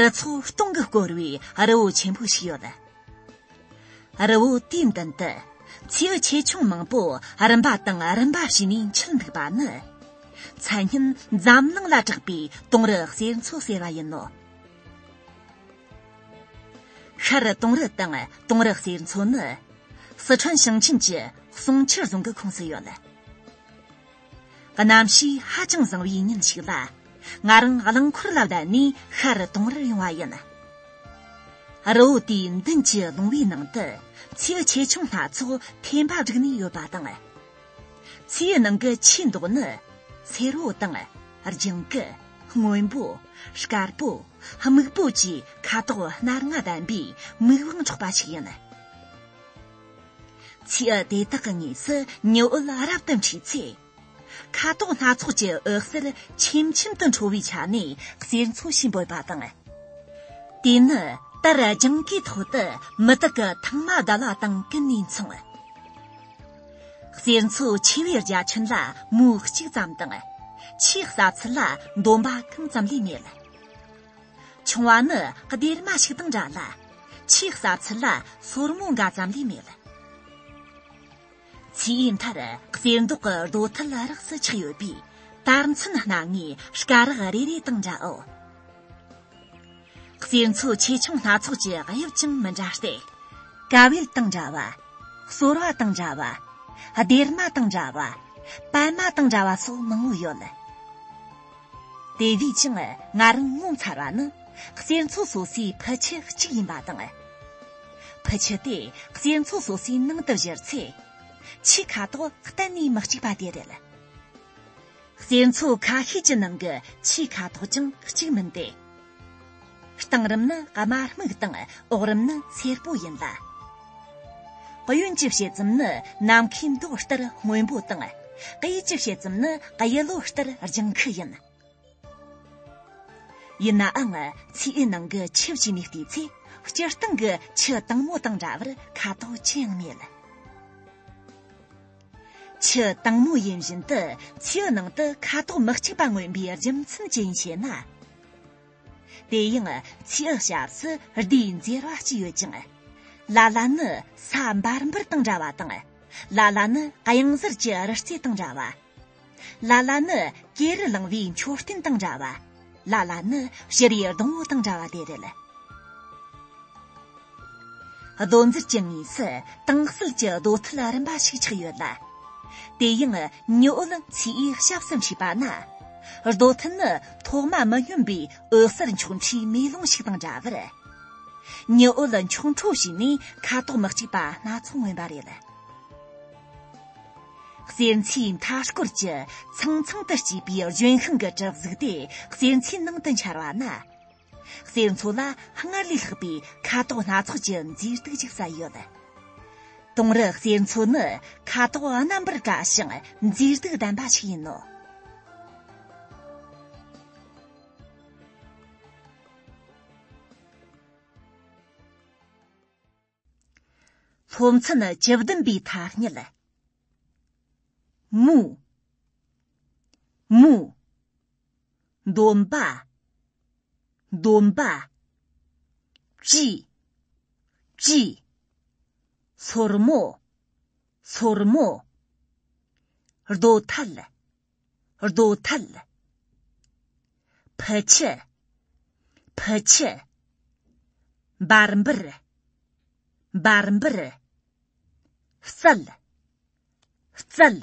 རི་ཚོགས་སྟོང་གིས་བསྐོར་བའི་རི་བོ་ཆེན་པོ་ཞིག་ཡོད། རི་བོ་དེའི་མདུན་དུ་མཚེའུ་ཆེ་ཆུང་མང་པོ་རིམ་པ་དང་རིམ་པ་བྱས་ནས་འཁྱིལ་འདུག་པ་ནི་མཚན་སྙན་འཛམ་གླིང་ལ་གྲགས་པའི་དོང་རི་གསེར་མཚོ་ཟེར་བ་ཡིན་ནོ། ཤར་རི་དོང་རི་དང་དོང་རི་གསེར་མཚོ་ནི་སི་ཁྲོན་ཞིང་ཆེན་གྱི་གསུང་ཆོས་རྫོང་གི་ཁོངས་སུ་ཡོད། གནམ་གཤིས་ཧ་ཅང་བཟང་བའི་ཉིན་ཞིག་ལ་ང་རང་རླངས་འཁོར་ལ་བསྡད་ནས་ཤར་གཏོང་རར་ཡོང་བ་ཡིན། རི་བོ་དེའི་མདུན་གྱི་ལུང་བའི་ནང་དུ་མཚེའུ་ཆེ་ཆུང་སྣ་ཚོགས་འཐེན་པ་བསྒྲིགས་ནས་ཡོད་པ་དང། མཚེའུའི་ནང་གི་ཆུའི་མདོག་ནི་སེར་པོ་དང་ལྗང་གུ་སྔོན་པོ་དཀར་པོ་སྨུག་པོ་བཅས་ཁ་དོག་སྣ་ལྔ་ལྡན་པའི་མིག་དབང་འཕྲོག་པ་ཞིག་ཡིན། ཚིག་དེ་དག་གི་ངོས་སུ་ཉི་འོད་ལ་རབ་ཏུ་འཁྲིགས་ཚེ། ཁ་དོག་སྣ་ཚོགས་ཀྱི་འོད་ཟེར་ཆེམ་ཆེམ་དུ་འཕྲོ་བའི་ཆ་ནས་གསེར་མཚོ་བཞིན་འབོད་པ་དང། དེ་ནི་དར་རྒྱང་གི་ཐོག་ཏུ་མི་དག་གི་ཐང་མ་གདལ་བ་དང་ཀུན་ནས་མཚུངས། གསེར་མཚོ་ཆེ་བའི་རྒྱ་ཁྱོན་ལ་མུའུ་གཅིག་ཙམ་དང། ཆེས་ཟབ་ཚད་ལ་འདོམས་པ་གང་ཙམ་ལས་མེད། ཆུང་བ་ནི་སྡེར་མ་ཞིག་དང་འདྲ་ལ། ཆེས་ཟབ་ཚད་ལ་སོར་མོ་འགའ་ཙམ་ལས་མེད། ཚེའི་མཐར་གསེར་མདོག་གི་རྡོ་ཐལ་རགས་སུ་ཆགས་ཡོད་པས་དར་མཚོན་སྣ་ལྔའི་སྐ་རགས་རེ་རེ་དང་འདྲའོ། གསེར་མཚོ་ཆེ་ཆུང་སྣ་ཚོགས་ཀྱི་དབྱིབས་ཀྱང་མི་འདྲ་སྟེ། ཀ་བལ་དང་འདྲ་བ། སོར་བ་དང་འདྲ་བ། སྡེར་མ་དང་འདྲ་བ། པད་མ་དང་འདྲ་བ་སོགས་མང་བོ་ཡོད། དེ་བས་ཀྱང་ང་རང་ངོ་མཚར་བ་ནི་གཅན་ཚོགས་སོ་སོའི་ཕུ་ཁྱུ་གཅིག་ཡིན་པ་དང། ཕུ་ཁྱུ་དེ་གཅན་ཚོགས་སོ་སོའི་ནང་དུ་བཞུར་ཚེ། ཁྱུ་ཁ་དོག་གཏན་ནས་མི་གཅིག་པ་དེ་རེད། གཅན་ཚོགས་ཁ་ཤས་ཀྱི་ནང་གི་ཁྱུ་ཁ་དོག་ཀྱང་གཅིག་མིན་ཏེ། གཏིང་རིམ་ནི་དམའ་སྨུག་དང་འོག་རིམ་ནི་སེར་པོ་ཡིན་ལ། གཡོན་གྱི་ཕྱེད་ཙམ་ནི་ནམ་མཁའི་མདོག་ལྟར་སྔོན་པོ་དང། གཡས་ཀྱི་ཕྱེད་ཙམ་ནི་གཡས་ལོ་ལྟར་ལྗང་ཁུ་ཡིན། ཡིན་ནའང་ཚེའི་ནང་གི་ཆུ་བཅུས་མི་བལྟས་ཚེ་སྤྱིར་བཏང་གི་ཆུ་དྭངས་མོ་དང་འདྲ་བར་ཁ་དོག་ཅི་ཡང་མེད། ཆུ་དྭངས་མོ་ཡིན་བཞིན་དུ་ཆུའི་ནང་དུ་ཁ་དོག་མི་གཅིག་པ་མངོན་པའི་རྒྱུ་མཚན་ཅི་ཡིན་ཞེ་ན། དེ་ཡང་ཆུའི་སྐྱབས་སུ་ཟླའི་འགྱུར་བ་གཅིག་ཡོད་ཅིང། ལ་ལ་ནི་ས་འབར་འབུར་དང་འདྲ་བ་དང། ལ་ལ་ནི་གཡང་གཟར་གྱི་རི་རྩེ་དང་འདྲ་བ། ལ་ལ་ནི་ཀེ་རི་གླིང་བའི་མཆོད་རྟེན་དང་འདྲ་བ། ལ་ལ་ནི་ཤི་རིའི་སྡོང་བོ་དང་འདྲ་བ་དེ་རེད། རྡོ་འཛེར་གྱི་ངོས་སུ་དྭངས་བསིལ་གྱི་རྡོ་ཐུལ་རིམ་པ་ཞིག་ཆགས་ཡོད་ལ། དེ་ཡང་ཉི་འོད་ཚོས་ཞབས་ཟིན་བྱས་པ་ན། རྡོ་ཐུལ་ནི་ཐོག་མ་མི་སྙོམས་པའི་འོད་གསལ་འཁྱུག་འཕྲོའི་མེ་ལོང་ཞིག་དང་འདྲ་བར། ཉི་འོད་འཁྱུག་འཕྲོ་བྱས་ནས་ཁ་དོག་མི་གཅིག་པ་སྣ་ཚོགས་མངོན་པ་རེད། གསེར་ཚེའི་མཐའ་སྐོར་གྱི་ཚང་ཚང་དུ་སྐྱེས་པའི་ལྗོན་ཤིང་གི་གྲིབ་གཟུགས་དེ་གསེར་ཚེའི་ནང་དུ་འཆར་བ་ན། གསེར་མཚོ་ལ་སྔར་ལས་ལྷག་པའི་ཁ་དོག་སྣ་ཚོགས་ཀྱི་མཛེས་སྡུག་ཅིག་ཟ་ཡོད། དུང་རི་གསེར་མཚོ་ནི་ཁ་དོག་རྣམ་པར་དགའ་ཞིང་མཛེས་སྡུག་ལྡན་པ་ཞིག་ཡིན་ནོ། ཕོ་མཚན་བཅུ་བདུན་པའི་ཐ་སྙད། མུ། མུ། འདོམ་པ། འདོམ་པ། ཅི། ཅི། སོར་མོ། སོར་མོ། རྡོ་ཐལ། རྡོ་ཐལ། ཕུ་ཆུ། ཕུ་ཆུ། འབར་འབུར། འབར་འབུར། རྩལ། རྩལ།